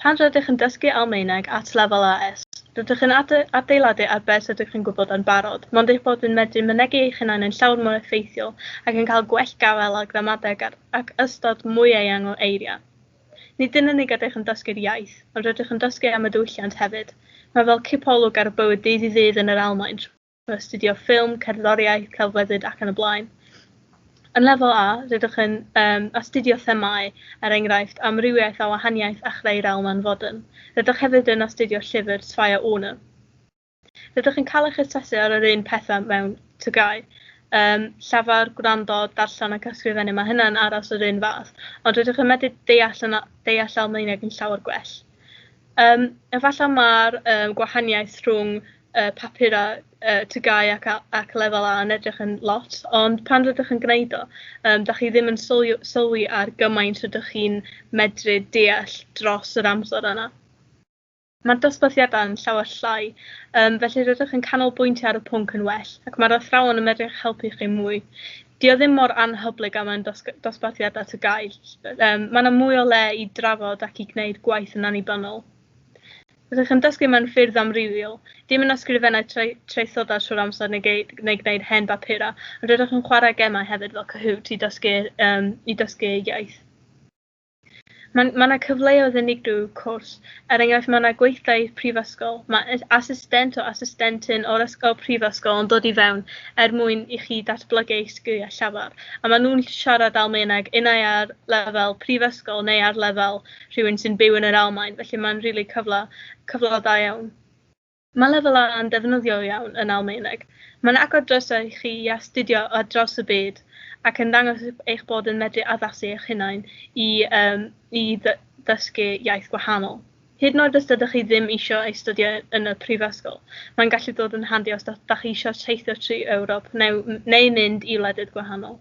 Pan rydych yn dysgu Almaeneg at lefel AS, rydych yn adeiladu ar beth rydych yn gwybod yn barod, mond eich bod yn medru mynegi eich hunain yn llawer mwy effeithiol ac yn cael gwell gafael ar gramadeg ac ystod mwy eang o eiriau. Nid yn unig ydych yn dysgu'r iaith, ond rydych yn dysgu am y diwylliant hefyd. Mae fel cipolwg ar y bywyd ddydd i ddydd yn yr Almaen. astudio ffilm, cerddoriaeth, celfyddyd ac yn y blaen. Yn lefel A, rydych yn um, astudio themâu, er enghraifft, amrywiaeth a wahaniaeth a chreu'r alman fodern. Rydych hefyd yn astudio llyfr Sfaya Una. Rydych yn cael eich asesu ar yr un pethau mewn tygau. Um, llafar, gwrando, darllen ac ysgrifennu, mae hynna'n aros yr un fath, ond rydych yn medru deall, yn, deall Almaeneg yn llawer gwell. Um, efallai mae'r um, gwahaniaeth rhwng y papura y TGAU ac a- ac lefel A yn edrych yn lot ond pan rydych yn gwneud o yym dach chi ddim yn sylwi sylwi ar gymaint rydych chi'n medru deall dros yr amser yna. Mae'r dosbarthiadau yn llawer llai, um, felly rydych yn canolbwyntio ar y pwnc yn well, ac mae'r athrawon yn medru eich helpu chi mwy. Dio o ddim mor anhyblyg am yn dos dosbarthiadau ty gael. Um, mae yna mwy o le i drafod ac i gwneud gwaith yn annibynnol. Rydych yn dysgu mewn ffyrdd amrywiol. Dim yn ysgrifennu trai- traethodau trwy'r amser neu gei- neu gwneud hen bapurau, ond rydych yn chwarae gemau hefyd fel Kahoot i dysgu um, i dysgu eu iaith. Mae ma 'na cyfleoedd unigryw, wrth cwrs. Er enghraifft, mae yna gweithdai i'r prifysgol. Mae asistent o asistentyn o'r ysgol prifysgol yn dod i fewn er mwyn i chi datblygu eich sgiliau llafar, a maen nhw'n siarad Almaeneg unai ar lefel prifysgol neu ar lefel rhywun sy'n byw yn yr Almaen, felly mae'n rili cyfle cyfle da iawn. Mae Lefel A yn ddefnyddiol iawn yn Almaeneg. Mae'n agor drysau i chi i astudio ar draws y byd ac yn dangos eich bod yn medru addasu eich hunain i um, i ddysgu iaith gwahanol. Hyd yn oed os ydych chi ddim eisiau ei studio yn y prifysgol, mae'n gallu dod yn handi os ydych chi eisiau teithio trwy Ewrop neu, neu mynd i wledydd gwahanol.